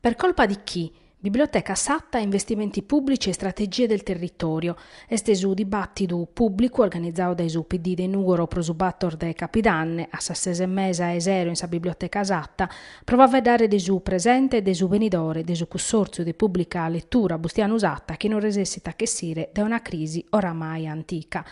Per colpa di chi? Biblioteca Satta, investimenti pubblici e strategie del territorio, est su dibàtidu pùblicu organizadu dae su PD de Nùgoro pro su bator de Capidanne, a sas ses e mesa 'e sero in sa Biblioteca Satta, pro faeddare de su presente e de su benidore de su Cussòrtziu de Pùblica Letura Bustianu Satta chi non resessit a ch'essire dae una crisi oramai antica.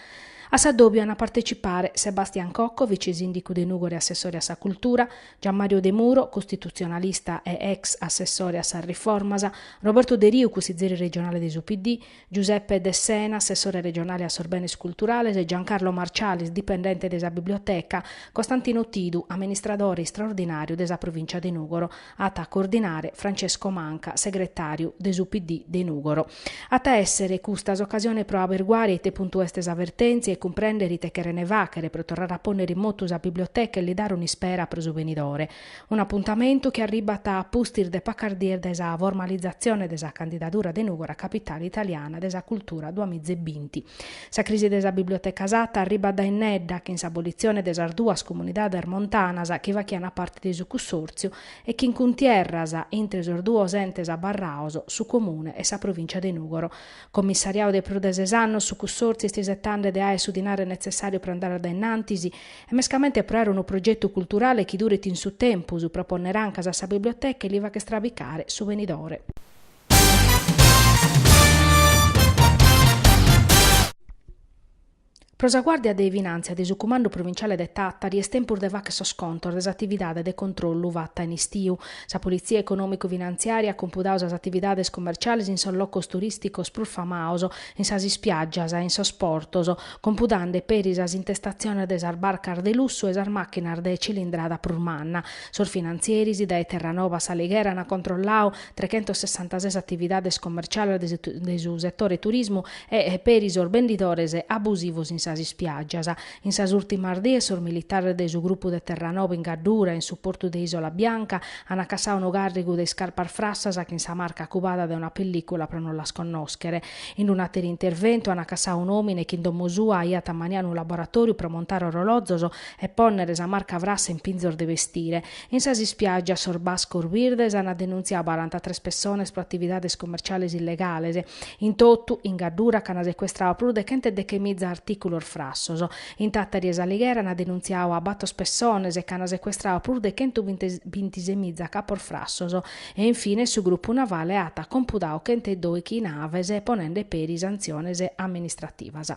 A s'addòbiu ant a partecipare Sebastian Cocco, vice-sìndicu de Nùgoro e assessore a sa Cultura, Gianmario Demuro, costitutzionalista e ex assessore a sas riformas, Roberto Deriu, cussizeri regionale de su PD, Giuseppe Dessena, assessore regionale a sos benes culturales e Giancarlo Marcialis, dipendente de sa biblioteca, Costantino Tidu, amministradore istraordinàriu de sa provìncia de Nùgoro, at a coordinare Francesco Manca, segretàriu de su PD de Nùgoro. At a èssere custa s'ocasione pro aberguare a ite puntu est sa vertèntzia e cumprèndere ite cherent fàghere pro torrare a pònnere in motu sa biblioteca e li dare un'ispera pro su benidore. Un'apuntamentu chi arribat a pustis de pacas dies dae sa formalizatzione de sa candidadura de Nùgoro a Capitale italiana de sa cultura duas miza e binti. Sa crisi de sa Biblioteca Satta arribat dae innedda chin s'abolitzione de sas duas comunidades montanas chi faghiant parte de su cussòrtziu e chin cuntierras intre sos duos entes abarrados, su Comune e sa Provìncia de Nùgoro. Commissariadu de prus de ses annos, su Cussòrtziu est isetande de aer su dinare netzessàriu pro andare a dae innantis e mescamente pro aer unu progetu culturale chi duret in su tempus pro pònnere ancas a sa biblioteca e li fàgher strabicare su benidore. Pro sa Guàrdia de Finàntzia de su Cumandu Provinciale de Tàtari est tempus de fàghere sos contos de s'atividade de controllu fata in istiu. Sa politzia econòmicu-finantziària at compudadu sas atividades comerciales in sos locos turìsticos prus famados, in sas ispiàgias e in sos portos, compudande peri sas intestatziones de sas barcas de lussu e sas màchinas de cilindrada prus manna. Sos finantzieris dae Terranova a S'Alighera ant controlladu trechentos sessantases atividades comerciales de su setore turismu e peri sos bendidores abusivos in sas ispiàgias. In sas ùrtimas dies sos militares de su grupu de Terranova in Gaddura, in su portu de Isola Bianca, an acassadu unu càrrigu de iscarpas frassas chin sa marca cubada de una pellìcula pro non las connòschere. In un'àteru interventu an acassadu un'òmine chi in domo sua aiat ammaniadu unu laboratòriu pro montare orolòzos e pònnere sa marca frassa in pinzos de bestire. In sas ispiàgias sos bascos birdes ant denuntziadu barantatres pessones pro atividades commerciales illegales. In totu, in Gaddura ch'ant secuestradu prus de chent'e dechemiza artìculos frassos. In Tàtari e S'Alighera ant denuntziadu a bator pessones e ch'ant secuestradu prus de chentu bintisemiza capos frassos. E in fines su grupu navale at compudadu chent'e doighi naves ponende peri santziones amministrativas.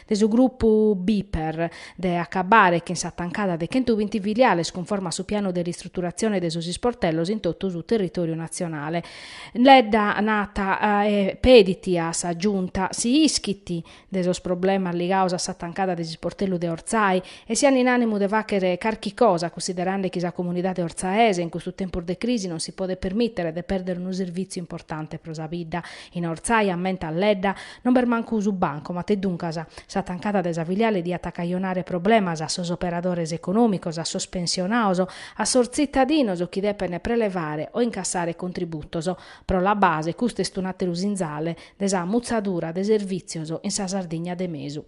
de su grupu Bper, de acabare chin s'atancada de chentu binti filiales cunforma a su pianu de ristruturatzione de sos isportellos in totu su territòriu natzionale. Ledda narat e pedit a sa Giunta si ischit de sos problemas ligados a s'atancada de s'isportellu de Ortzai e si ant in ànimu de fàghere carchi cosa cunsiderende chi sa comunidade ortzaese in custos tempos de crisi non si podet permìtere de pèrdere unu servìtziu importante pro sa bidda in Ortzai, ammentat Ledda. Non b'est mancu su bancomat e duncas sa tancada de sa filiale diat cajonare problemas a sos operadores econòmicos, a sos pensionados, a sos tzitadinos chi depent prelevare o incassare contributos. Pro La Base custu est un'àteru sinzale de sa mutzadura de servìtzios in sa Sardigna de mesu.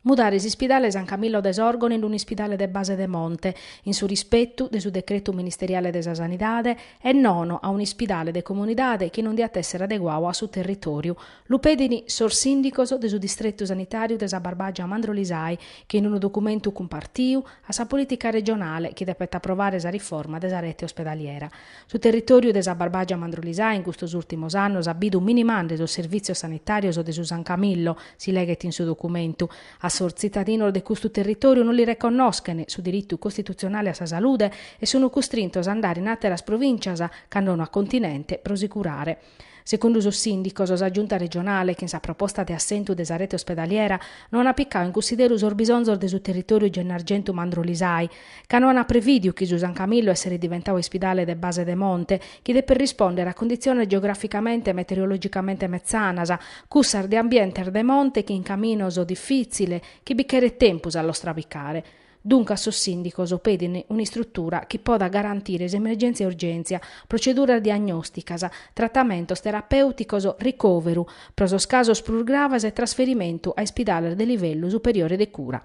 Mudare s'ispidale San Camillo de Sòrgono in un'ispidale de base de monte, in su rispetu de su decretu ministeriale de sa Sanidade, e nono a un'ispidale de comunidade chi non diat èssere adeguadu a su territòriu, lu pedin sos sìndicos de su distretu sanitàriu de sa Barbàgia Mandrolisai chi in unu documentu cumpartiu a sa polìtica regionale chi depet aprovare sa riforma de sa rete ospedaliera. Su territòriu de sa Barbàgia Mandrolisai in custos ùrtimos annos at bidu minimande sos servìtzios sanitàrios de su San Camillo, si leghet in su documentu. A sos tzitadinos de custu territòriu non li reconnoschen su diritu costitutzionale a sa salude e sunt custrintos a andare in àteras provìncias, cando no a continente, pro si curare. Segundu sos sìndicos, sa Giunta regionale, chin sa proposta de assentu de sa rete ospedaliera, no ant picadu in cunsideru sos bisonzos de su territòriu Gennargentu-Mandrolisai, ca no ant prevìdiu chi su San Camillo esseret diventadu ispidale de base de monte, chi depet rispòndere a conditziones geogràficamente e meteorologicamente metzanas, cussas de ambientes de monte chin caminos difìtziles chi bi cheret tempus a los trabicare. Duncas sos sìndicos pedin un'istrutura chi podat garantire s'emergèntzia e urgèntzia, proceduras diagnòsticas, tratamentos terapèuticos, ricòveru pro sos casos prus graves e trasferimentu a ispidales de livellu superiore de cura.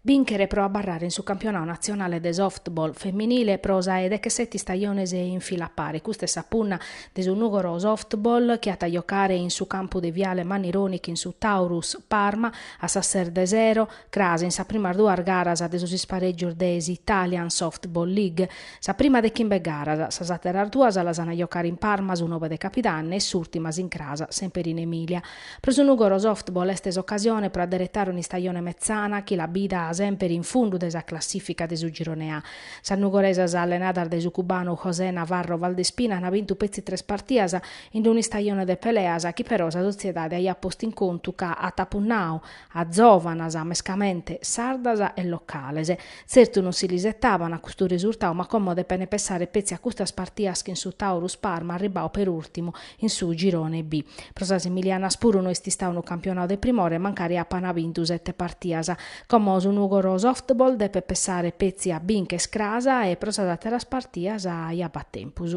Bìnchere pro abarrare in su campionadu natzionale de softball feminile pro sa 'e decheseti istajones in fila a pare, custa est sa punna de su Nùgoro Softball chi at a jocare in su campu de Viale Mannironi chin su Taurus Parma a sas ses de sero, cras in sas primas duas garas de sos isparègios de s'Italian Softball League. Sa prima de chimbe garas, sas àteras duas las an a jocare in Parma su nobe de Capidanne e s'ùrtima s'incràs semper in Emilia. Pro su Nugoro Softball est s'ocasione pro adderetare un'istajone metzana chi l'at bida semper in fundu de sa classìfica de su Girone A. Sas nugoresas allenadas dae su cubanu José Navarro Valdespina ant bintu petzi tres partidas in un'istajone de peleas chi però sa sotziedade aiat postu in contu ca at punnadu a zòvanas, mescamente sardas e locales. Tzertu non si l'isetaban a custu resurtau ma como depene pessare petzi a custas partias chin su Taurus Parma arribau per ùrtimu in su Girone B. Pro sas emilianas puru no est istau unu campionau de primore mancari apana bintu sete partias. Como su Nùgoro Softball depet pessare petzi a bìnchere cras e pro sas àteras partias ja b'at tempus.